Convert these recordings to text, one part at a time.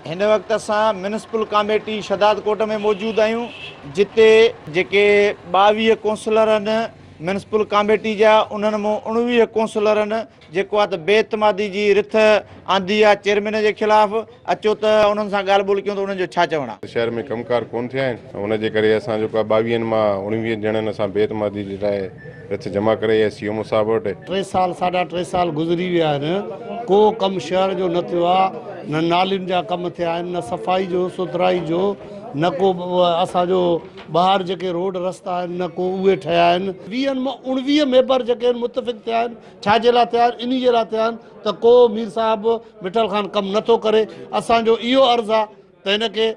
هن وقت اسان ميونسپل ڪاميٽي شھدادڪوٽ ۾ موجود آهيون جتي جيڪي ٻاويهه ڪونسلر آهن ميونسپل ڪاميٽي جا انهن مون اڻويهه ڪونسلرن جيڪو آهي ته بي اعتمادي جي رٿ آندي آهي چيئرمين جي خلاف اچو ته انهن سان ڳالهه ٻولهه ڪيون ته انهن جو ڇا چوڻ آهي. شهر ۾ ڪم ڪار ڪون ٿيا آهن ان جي ڪري اسان جيڪو آهي ٻاويهن مان اڻويهن ڄڻن اسان بي اعتمادي جي لاء رٿ جمع ڪري ايس سي او مصعب وٽ. ٽي سال ساڍا ٽي سال گذري ويا آهن ڪو ڪم شهر جو نه ٿيو آهي نه نالين جا ڪم ٿيا آهن نه صفائي جو سٿرائي جو نه ڪو اسان جو ٻاهر جيڪي روڊ رستا آهن نه ڪو اهي ٺهيا آهن. ويهن مان اڻويهه ميبر جيڪي آهن متفق ٿيا آهن ڇا جي لاء ٿيا آهن انهي جي لاء ٿيا آهن ته ڪو مير صاحب مٺل خان ڪم نه ٿو ڪري اسان جو اهو عرض آهي ته ان کي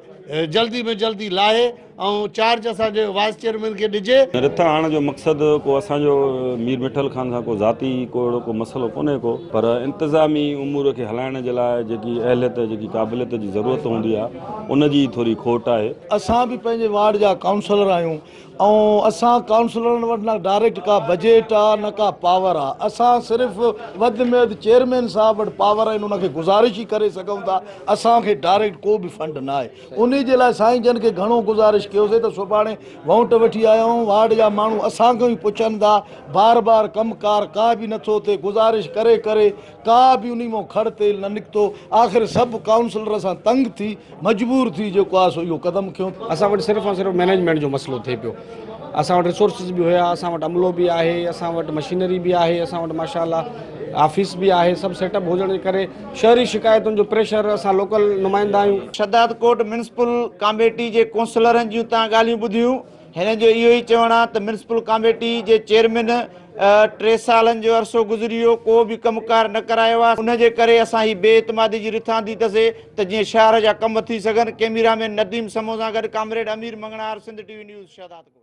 جلدي ۾ جلدي لاهي ۽ چارج اسان جي وائيس چيئرمين کي ڏجي. رٿا آڻڻ جو مقصد ڪو اسان جو مير مٺل خان سان ڪو ذاتي ڪو اهڙو ڪو مسئلو ڪونهي ڪو پر انتظامي امور کي هلائڻ جي لاء جيڪي اهليت جيڪي قابليت جي ضرورت هوندي آهي ان جي ٿوري کوٽ آهي. اسان به پنهنجي وارڊ جا ڪائونسلر آهيون ائون اسان ڪائونسلرن وٽ نه ڊائريڪٽ ڪا بجيٽ آ نه ڪا پاور آ اسان صرف وڌ ۾ وڌ چيئرمين صاحب وٽ پاور آهن ان کي گذارش ئي ڪري سگهون ٿا اسان کي ڊائريڪٽ ڪو به فنڊ نه آهي انهي جي لاء سائين جن کي گهڻو گذارش ڪيوسي ته سڀاڻي وونٽ وٺي آيا آهيون وارڊ جا ماڻهو اسان کان ئي پڇن ٿا بار بار ڪم ڪار ڪا به نٿو ٿئي گذارش ڪري ڪري ڪا به انهي مان کڙ تيل نه نڪتو، آخر سڀ ڪائونسلر اسان تنگ ٿي مجبور ٿي جيڪو آهي سو اهو قدم کنيو. اسان وٽ صرف ۽ صرف مينيجمينٽ جو مسئلو ٿئي پيو، اسان وٽ ريسورسز به هيا، اسان وٽ عملو به آهي، اسان وٽ مشينري به آهي، اسان وٽ ماشاء الله آفيس به آهي، سڀ سيٽ اپ هجڻ جي ڪري شهري شڪايتن جو پريشر اسان لوڪل نمائندا آهيون. شهدادڪوٽ ميونسپل ڪاميٽي جي ڪونسلرن جون تان ڳالهيون ٻڌيون. هن جو اهو ئي چوڻ آهي ته ميونسپل ڪاميٽي جي چيئرمين ٽي سالن جو عرصو گذري ويو ڪو به ڪم ڪار نه ڪرايو آهي ان جي ڪري اسان هي بي اعتمادي جي رٿ آندي تسي ته جيئن شهر جا ڪم ٿي سگهن ڪيميرا مين نديم سمون سان گڏ comrade Amir Mangnhar Sindh T V news Shahdadkot.